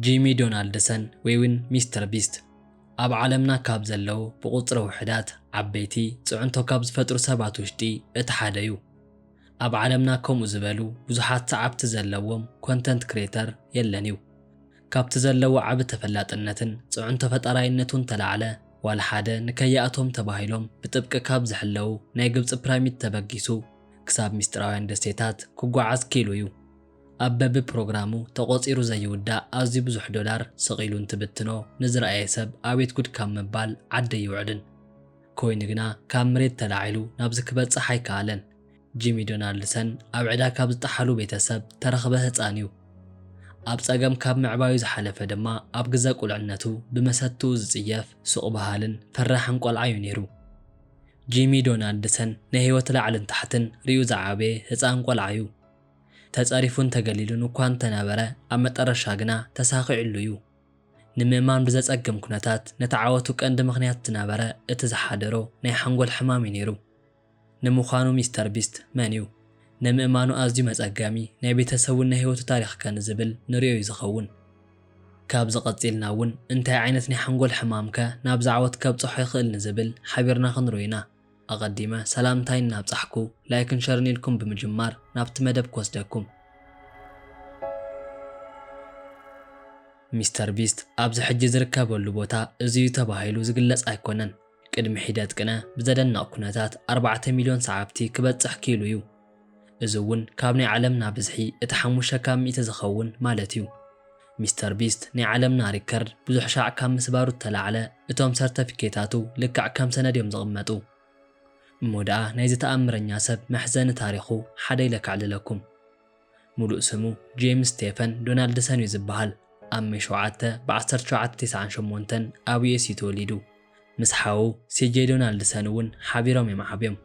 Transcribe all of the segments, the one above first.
ጂሚ ዶናልድሰን ወይውን ሚስተር ቢስት ኣብ ዓለምና ካብ ዘለው ብቑጽሪ ውሕዳት ዓበይቲ ጽዕንቶ ካብ ዝፈጥሩ ሰባት ውሽጢ እቲ ሓደ እዩ። ኣብ ዓለምና ከምኡ ዝበሉ ብዙሓት ሰዓብቲ ዘለዎም ኮንተንት ክሬተር የለን እዩ። ካብቲ ዘለዎ ዓቢ ተፈላጥነትን ጽዕንቶ ፈጣራይነቱን ተላዕለ ዋላ ሓደ ንከይኣትዎም ተባሂሎም ብጥብቂ ካብ ዝሕለው ናይ ግብጺ ፕራሚድ ተበጊሱ ክሳብ ምስጢራውያን ደሴታት ክጓዓዝ ክኢሉ እዩ። ኣብ በቢ ፕሮግራሙ ተቖጺሩ ዘይውዳእ ኣዝዩ ብዙሕ ዶላር ሰቒሉ እንትብትኖ ንዝረኣየ ሰብ ኣቤት ጉድ ካብ ምባል ዓዲ ኣይውዕልን። ኮይኑ ግና ካብ ምሬት ተላዒሉ ናብዚ ክበጽሕ ኣይከኣለን። ጂሚ ዶናልድሰን ኣብ ዕዳ ካብ ዝጠሓሉ ቤተሰብ ተረኽበ ህጻን እዩ። ኣብ ጸገም ካብ ምዕባዩ ዝሓለፈ ድማ ኣብ ግዘ ቁልዕነቱ ብመሰትኡ ዝጽየፍ፣ ሱቕ በሃልን ፈራሕን ቆልዓ እዩ ነይሩ። ጂሚ ዶናልድሰን ናይ ህይወት ላዕልን ታሕትን ርእዩ ዝዓበየ ህጻን ቆልዓ'ዩ። ተጸሪፉን ተገሊሉን እኳ እንተነበረ ኣብ መጠረሻ ግና ተሳኺዑሉ'ዩ። ንምእማን ብዘጸግም ኩነታት ነቲ ዓወቱ ቀንዲ ምኽንያት ዝነበረ እቲ ዝሓደሮ ናይ ሓንጎል ሕማም'ዩ ነይሩ። ንምዃኑ ሚስተር ቢስት መን'ዩ? ንምእማኑ ኣዝዩ መጸገሚ ናይ ቤተሰቡን ናይ ህይወቱ ታሪኽከ ንዝብል ንርእዮ'ዩ ዝኸውን። ካብዚ ቀጺልና እውን እንታይ ዓይነት ናይ ሓንጎል ሕማም ከ ናብዚ ዓወት ከብጽሖ ይኽእል ንዝብል ሓቢርና ክንርኦ ኢና። ኣቐዲመ ሰላምታይ እናብጻሕኩ ላይክን ሸርን ኢልኩም ብምጅማር ናብቲ መደብ ክወስደኩም። ሚስተር ቢስት ኣብዚ ሕጂ ዝርከበሉ ቦታ እዚ እዩ ተባሂሉ ዝግለጽ ኣይኮነን። ቅድሚ ሒደት ቅነ ብዘደንቕ ኩነታት ኣርባዕተ ሚልዮን ሰዓብቲ ክበጽሕ ክኢሉ እዩ። እዚ እውን ካብ ናይ ዓለምና ብዝሒ እቲ ሓሙሽተ ካብ ሚእቲ ዝኸውን ማለት እዩ። ሚስተር ቢስት ናይ ዓለምና ሪከርድ ብዙሕ ሻዕ ካብ ምስባሩ እተላዕለ እቶም ሰርተፊኬታቱ ልክዕ ከም ሰነድ እዮም ዝቕመጡ። እሞ ደኣ ናይዚ ተኣምረኛ ሰብ መሕዘኒ ታሪኹ ሓደ ኢለ ከዕልለኩም። ሙሉእ ስሙ ጄምስ ስቴፈን ዶናልድሰን እዩ ዝበሃል። ኣብ ሜይ ሸውዓተ ብ ዓሰርተ ሸውዓተ ቴስዓን ሸሞንተን ኣብ US እዩ ተወሊዱ። ምስ ሓዉ ሲጄይ ዶናልድሰን እውን ሓቢሮም እዮም ዓብዮም።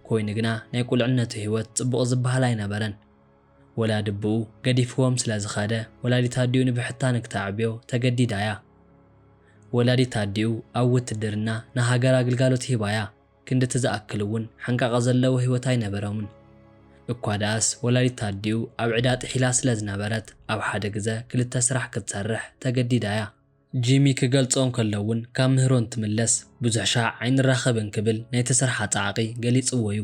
ኮይኑ ግና ናይ ቁልዕነቱ ህይወት ፅቡቕ ዝበሃል ኣይነበረን። ወላዲ ኣቡኡ ገዲፍዎም ስለ ዝኸደ ወላዲት ኣዲኡ ንብሕታ ንክተዕብዮ ተገዲዳ እያ። ወላዲት ኣዲኡ ኣብ ውትድርና ንሃገራ ግልጋሎት ሂባ እያ። ክንድቲ ዝኣክል እውን ሓንቃቐ ዘለዎ ህይወት ኣይነበሮምን። እኳ ደኣስ ወላዲት ኣዲኡ ኣብ ዕዳ ጥሒላ ስለ ዝነበረት ኣብ ሓደ ግዘ ክልተ ስራሕ ክትሰርሕ ተገዲዳ እያ። ጂሚ ክገልፆ እንከሎ እውን ካብ ምህሮ እንትምለስ ብዙሕ ሻዕ ኣይንራኸብን ክብል ናይቲ ስርሓ ፃዕቒ ገሊፅዎ እዩ።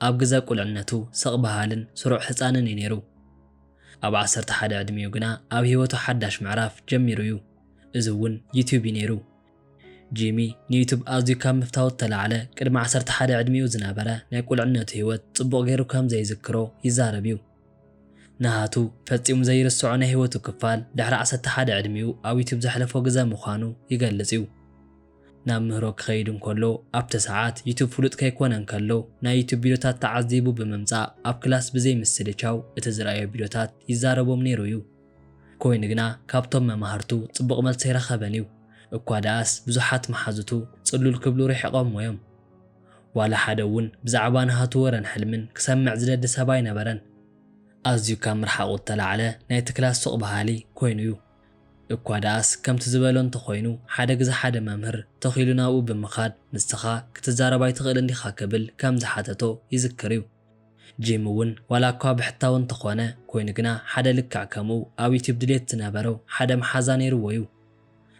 ኣብ ግዘ ቁልዕነቱ ስቕ በሃልን ስሩዕ ህፃንን እዩ ነይሩ። ኣብ ዓሰርተ ሓደ ዕድሚኡ ግና ኣብ ህይወቱ ሓዳሽ ምዕራፍ ጀሚሩ እዩ። እዚ እውን ዩትዩብ እዩ ነይሩ። ጂሚ፣ ንዩቱብ ኣዝዩ ካብ ምፍታዉ እተላዕለ፣ ቅድሚ ዓሰርተ ሓደ ዕድሚኡ ዝነበረ ናይ ቁልዕነቱ ህይወት ጽቡቕ ገይሩ ከም ዘይዝክሮ ይዛረብ እዩ። ናሃቱ ፈጺሙ ዘይርስዖ ናይ ህይወቱ ክፋል፣ ድሕሪ ዓሰርተ ሓደ ዕድሚኡ ኣብ ዩቱብ ዘሕለፎ ግዘ ምዃኑ ይገልጽ እዩ። ናብ ምህሮ ክኸይድ እንከሎ፣ ኣብቲ ሰዓት ዩቱብ ፍሉጥ ከይኰነ እንከሎ፣ ናይ ዩቱብ ቪድዮታት ተዓዚቡ ብምምጻእ ኣብ ክላስ ብዘይ ምስልቻው እቲ ዝርኣዮ ቪድዮታት ይዛረቦም ነይሩ እዩ። ኮይኑ ግና ካብቶም መማህርቱ ጽቡቕ መልሲ ኣይረኸበን እዩ። እኳ ደኣስ ብዙሓት መሓዙቱ ጽሉል ክብሉ ርሒቖሞ እዮም። ዋላ ሓደ እውን ብዛዕባ ናሃቱ ወረን ሕልምን ክሰምዕ ዝደሊ ሰብ ኣይነበረን። ኣዝዩ ካብ ምርሓቑ እተላዕለ ናይ ትክላ ሱቕ በሃሊ ኮይኑ እዩ። እኳ ደኣስ ከምቲ ዝበሎ እንተ ኾይኑ ሓደ ግዘ ሓደ መምህር ተኺሉ ናብኡ ብምኻድ ንስኻ ክትዛረብ ኣይትኽእልን ዲኻ ክብል ከም ዝሓተቶ ይዝክር እዩ። ጂም እውን ዋላ እኳ ብሕታዊ እንተኾነ ኮይኑ ግና ሓደ ልክዕ ከምኡ ኣብ ዩቱብ ድሌት ዝነበሮ ሓደ መሓዛ ነይርዎ እዩ።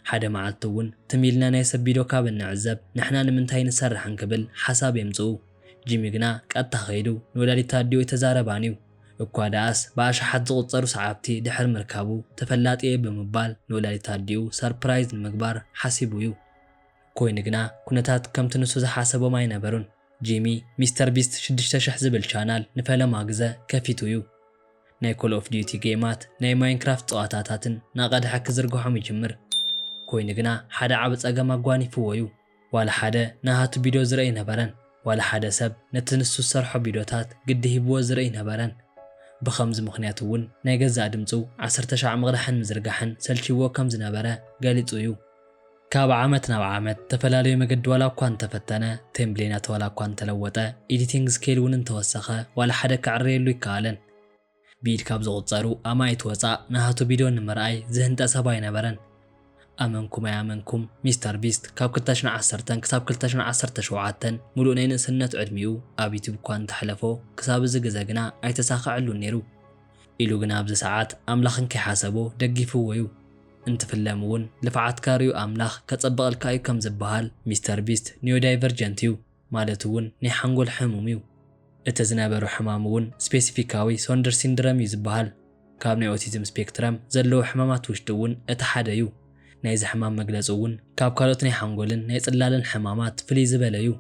ሓደ መዓልቲ እውን ትም ኢልና ናይ ሰብ ቢዶ ካብ እንዕዘብ ንሕና ንምንታይ ንሰርሕ እንክብል ሓሳብ የምፅኡ ጂሚ ግና ቀጥታ ከይዱ ንወላዲት ኣዲኡ ኣይተዛረባን እዩ እኳ ደኣስ ብኣሽሓት ዝቑፀሩ ሰዓብቲ ድሕሪ ምርካቡ ተፈላጢ እየ ብምባል ንወላዲት ኣዲኡ ሰርፕራይዝ ንምግባር ሓሲቡ እዩ። ኮይኑ ግና ኩነታት ከምቲ ንሱ ዝሓሰቦም ኣይነበሩን። ጂሚ ሚስተር ቢስት ሽዱሽተ ሽሕ ዝብል ቻናል ንፈለማ ግዘ ከፊቱ እዩ። ናይ ኮል ኦፍ ዲዩቲ ጌማት ናይ ማይንክራፍት ፀዋታታትን ናቀድሐ ክዝርግሖም ይጅምር። ኮይኑ ግና ሓደ ዓቢ ፀገም ኣጓኒፍዎ እዩ። ዋላ ሓደ ናሃቱ ቢዶ ዝርኢ ኣይነበረን። ዋላ ሓደ ሰብ ነቲ ንሱ ዝሰርሖ ቢዶታት ግዲ ሂብዎ ዝርኢ ኣይነበረን። ብኸምዚ ምኽንያት እውን ናይ ገዛእ ድምፁ ዓሰርተ ሻዕ ምቅዳሕን ምዝርጋሕን ሰልችይዎ ከም ዝነበረ ገሊፁ እዩ። ካብ ዓመት ናብ ዓመት ተፈላለዩ መገዲ ዋላ እኳ እንተፈተነ፣ ቴምብሌናት ዋላ እኳ እንተለወጠ፣ ኤዲቲንግ ስኬል እውን እንተወሰኸ ዋላ ሓደ ክዕረየሉ ኣይከኣለን። ብኢድ ካብ ዝቑጸሩ ኣማኢት ወጻእ ናሃቱ ቪድዮ ንምርኣይ ዝህንጠ ሰብ ኣይነበረን። ኣመንኩም ኣይኣመንኩም ሚስተር ቢስት ካብ ክልተ ሽሕ ዓሰርተ ክሳብ ክልተ ሽሕ ዓሰርተ ሸውዓተ ሙሉእ ናይ ንእስነት ዕድሚኡ ኣብ ዩቱብ እኳ እንተሕለፎ ክሳብ እዚ ግዘ ግና ኣይተሳኸዐሉን ነይሩ። ኢሉ ግና ኣብዚ ሰዓት ኣምላኽ እንከይሓሰቦ ደጊፍዎ እዩ። እንትፍለም እውን ልፍዓትካ ሪኡ ኣምላኽ ከጸብቐልካ እዩ ከም ዝበሃል ሚስተር ቢስት ኒዮዳይቨርጀንት እዩ ማለት እውን ናይ ሓንጎል ሕሙም እዩ። እቲ ዝነበሮ ሕማም እውን ስፔሲፊካዊ ሶንደር ሲንድረም እዩ ዝበሃል። ካብ ናይ ኦቲዝም ስፔክትረም ዘለዎ ሕማማት ውሽጢ እውን እቲ ሓደ እዩ። ናይዚ ሕማም መግለጺ እውን ካብ ካልኦት ናይ ሓንጎልን ናይ ጽላለን ሕማማት ፍልይ ዝበለ እዩ።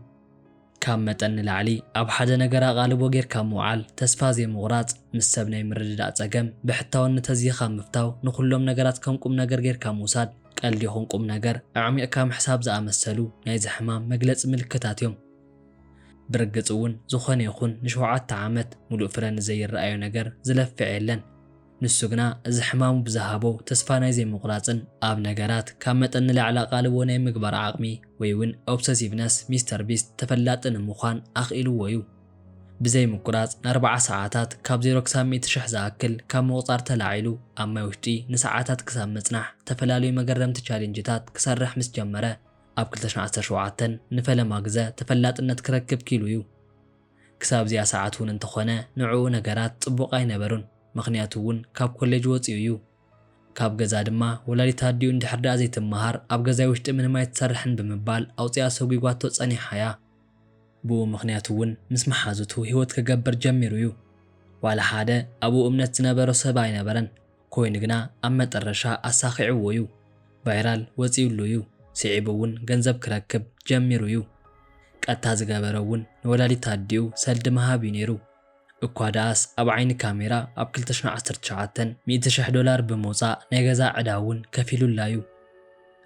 ካብ መጠን ንላዕሊ ኣብ ሓደ ነገር ኣቓልቦ ጌርካ ምውዓል፣ ተስፋ ዘይምቑራጽ፣ ምስ ሰብ ናይ ምርድዳእ ጸገም፣ ብሕታውነት ኣዚኻ ምፍታው፣ ንኹሎም ነገራት ከም ቁምነገር ጌርካ ምውሳድ፣ ቀልዲ ይኹን ቁምነገር ኣዕሚቕካ ምሕሳብ ዝኣመሰሉ ናይዚ ሕማም መግለጺ ምልክታት እዮም። ብርግጽ እውን ዝኾነ ይኹን ንሸውዓተ ዓመት ምሉእ ፍረ ንዘይረኣዮ ነገር ዝለፍዕ የለን። ንሱ ግና እዚ ሕማሙ ብዝሃቦ ተስፋ ናይ ዘይምቑራጽን ኣብ ነገራት ካብ መጠን ንላዕሊ ኣቓልቦ ናይ ምግባር ዓቕሚ ወይ'ውን ኦብሰሲቭነስ ሚስተር ቢስት ተፈላጢ ንምዃን ኣኽኢልዎ'ዩ። ብዘይምቁራጽ ንኣርብዓ ሰዓታት ካብ ዜሮ ክሳብ ሚእቲ ሽሕ ዝኣክል ካብ ምቑጻር ተላዒሉ ኣብ ማይ ውሽጢ ንሰዓታት ክሳብ ምጽናሕ ዝተፈላለዩ መገረምቲ ቻሌንጅታት ክሰርሕ ምስ ጀመረ ኣብ ክልተ ሽሕን ዓሰርተ ሸውዓተን ንፈለማ ግዘ ተፈላጥነት ክረክብ ክኢሉ'ዩ። ክሳብ እዚኣ ሰዓት እውን እንተኾነ ንዕኡ ነገራት ጽቡቕ ኣይነበሩን ምኽንያቱ እውን ካብ ኮሌጅ ወጺኡ እዩ ካብ ገዛ ድማ ወላዲት ኣዲኡ እንድሕር ደኣ ዘይትመሃር ኣብ ገዛይ ውሽጢ ምንም ኣይትሰርሕን ብምባል ኣውጺኣ ሰጒጓቶ ጸኒሓ እያ። ብኡ ምኽንያት እውን ምስ መሓዙቱ ህይወት ክገብር ጀሚሩ እዩ። ዋላ ሓደ ኣብኡ እምነት ዝነበሮ ሰብ ኣይነበረን። ኮይኑ ግና ኣብ መጠረሻ ኣሳኺዕዎ ዩ ቫይራል ወጺኡሉ ዩ ሲዒቡ ውን ገንዘብ ክረክብ ጀሚሩ ዩ ቀጥታ ዝገበሮ ውን ንወላዲት ኣዲኡ ሰልዲ ምሃብ ዩ ኔሩ እኳ ድኣስ ኣብ ዓይኒ ካሜራ ኣብ ክልተ ሽሕ ዓሰርተ ትሽዓተ ሚእቲ ሽሕ ዶላር ብምውጻእ ናይ ገዛ ዕዳ ውን ከፊሉላ ዩ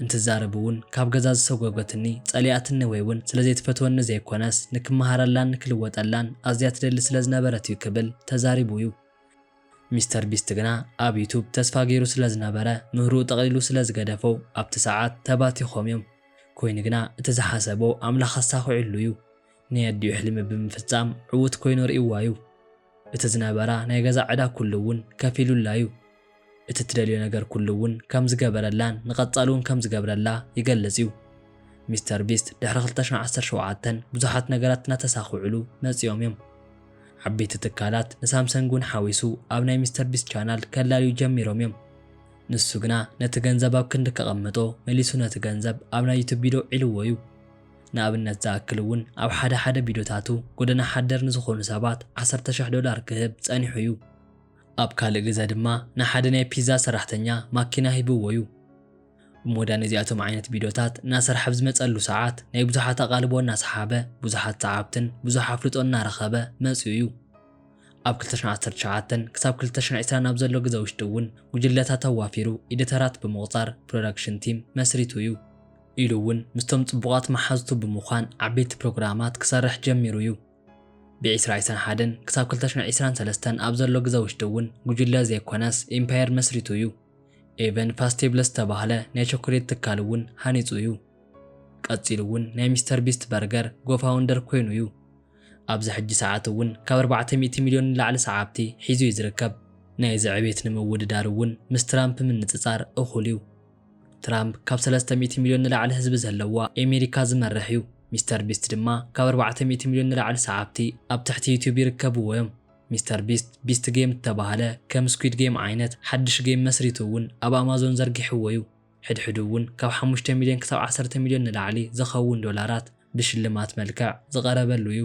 እንትዛረብ ውን ካብ ገዛ ዝሰጎገትኒ ጸሊኣትኒ ወይ ውን ስለ ዘይትፈትወኒ ዘይኮነስ ንክመሃረላን ንክልወጠላን ኣዝያ ትደሊ ስለ ዝነበረት ዩ ክብል ተዛሪቡ ዩ። ሚስተር ቢስት ግና ኣብ ዩቱብ ተስፋ ገይሩ ስለ ዝነበረ ምህርኡ ጠቕሊሉ ስለ ዝገደፎ ኣብቲ ሰዓት ተባቲኾም እዮም ኮይኑ ግና እቲ ዝሓሰቦ ኣምላኽ ኣሳኺዑሉ እዩ ናይ ኣዲኡ ሕልሚ ብምፍጻም ዕዉት ኮይኑ ርእይዋ እዩ እቲ ዝነበራ ናይ ገዛ ዕዳ ኩሉ እውን ከፊሉላ እዩ እቲ እትደልዮ ነገር ኩሉ እውን ከም ዝገበረላን ንቐጻሊ እውን ከም ዝገብረላ ይገልጽ እዩ። ሚስተር ቢስት ድሕሪ ክልተ ሽሕን ዓሰርተ ሸውዓተን ብዙሓት ነገራት እናተሳኽዑሉ መጺኦም እዮም። ዓበይቲ ትካላት ንሳምሰንግ እውን ሓዊሱ ኣብ ናይ ሚስተር ቢስት ቻናል ከላልዩ ጀሚሮም እዮም። ንሱ ግና ነቲ ገንዘብ ኣብ ክንዲ ከቐምጦ መሊሱ ነቲ ገንዘብ ኣብ ናይ ዩቱብ ቪዶ ዒልዎ እዩ። ንኣብነት ዝኣክል እውን ኣብ ሓደ ሓደ ቪዶታቱ ጎደና ሓደር ንዝኾኑ ሰባት ዓሰርተ ሽሕ ዶላር ክህብ ጸኒሑ እዩ። ኣብ ካልእ ግዘ ድማ ንሓደ ናይ ፒዛ ሰራሕተኛ ማኪና ሂብዎ'ዩ። እሞ ድኣ ነዚኣቶም ዓይነት ቪድዮታት እናሰርሐ ኣብ ዝመጸሉ ሰዓት ናይ ብዙሓት ኣቓልቦ እናሰሓበ ብዙሓት ሰዓብትን ብዙሕ ኣፍልጦን እናረኸበ መጺኡ'ዩ። ኣብ ክልተ ሽሕን ዓሰርተ ትሽዓተን ክሳብ ክልተ ሽሕን ዕስራን ኣብ ዘሎ ግዘ ውሽጢ'ውን ጉጅለታት ኣዋፊሩ ኢዲተራት ብምቑጻር ፕሮዳክሽን ቲም መስሪቱ'ዩ። ኢሉ'ውን ምስቶም ጽቡቓት መሓዙቱ ብምዃን ዓበይቲ ፕሮግራማት ክሰርሕ ጀሚሩ'ዩ። ብዒስራ ዒስራን ሓደን ክሳብ ክልተ ሽሕ ዒስራን ሰለስተን ኣብ ዘሎ ግዘ ውሽጢ እውን ጉጅለ ዘይኮነስ ኢምፓየር መስሪቱ እዩ። ኤቨን ፋስቴብለስ ዝተባህለ ናይ ቸኮሌት ትካል እውን ሃኒፁ እዩ። ቀፂሉ እውን ናይ ሚስተር ቢስት በርገር ጎፋውንደር ኮይኑ እዩ። ኣብዚ ሕጂ ሰዓት እውን ካብ ኣርባዕተ ሚእቲ ሚልዮን ንላዕሊ ሰዓብቲ ሒዙ እዩ ዝርከብ። ናይዚ ዕቤት ንምውድዳር እውን ምስ ትራምፕ ምንፅፃር እኹል እዩ። ትራምፕ ካብ ሰለስተ ሚእቲ ሚልዮን ንላዕሊ ህዝቢ ዘለዋ ኤሚሪካ ዝመርሕ እዩ። ሚስተር ቢስት ድማ ካብ ኣርባዕተ ሚእቲ ሚልዮን ንላዕሊ ሰዓብቲ ኣብ ትሕቲ ዩቱብ ይርከብዎ እዮም። ሚስተር ቢስት ቢስት ጌም እተባህለ ከም ስኲድ ጌም ዓይነት ሓድሽ ጌም መስሪቱ እውን ኣብ ኣማዞን ዘርጊሕዎ እዩ። ሕድሕዱ እውን ካብ ሓሙሽተ ሚልዮን ክሳብ ዓሰርተ ሚልዮን ንላዕሊ ዝኸውን ዶላራት ብሽልማት መልክዕ ዝቐረበሉ እዩ።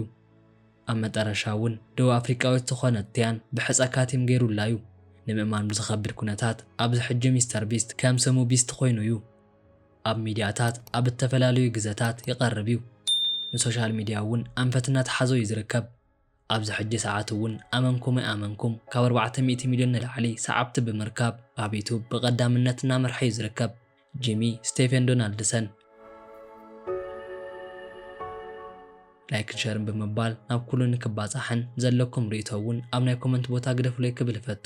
ኣብ መጠረሻ እውን ደቡብ ኣፍሪቃዊት ዝኾነት ቲያን ብሕጸ ካቲም ገይሩላ እዩ። ንምእማን ብዝኸብድ ኩነታት ኣብዚ ሕጂ ሚስተር ቢስት ከም ስሙ ቢስት ኮይኑ እዩ። ኣብ ሚድያታት ኣብ እተፈላለዩ ግዘታት ይቐርብ እዩ። ንሶሻል ሚድያ እውን ኣንፈት እናተሓዞ እዩ ዝርከብ። ኣብዚ ሕጂ ሰዓት እውን ኣመንኩም ኣይኣመንኩም ካብ ኣርባዕተ ሚእቲ ሚልዮን ንላዕሊ ሰዓብቲ ብምርካብ ኣብ ዩቱብ ብቐዳምነት እናመርሐ እዩ ዝርከብ። ጂሚ ስቴፌን ዶናልድሰን። ላይክን ሸርን ብምባል ናብ ኩሉ ንክባጻሕን ዘለኩም ርእይቶ ውን ኣብ ናይ ኮመንት ቦታ ግደፉለይ ክብል እፈቱ።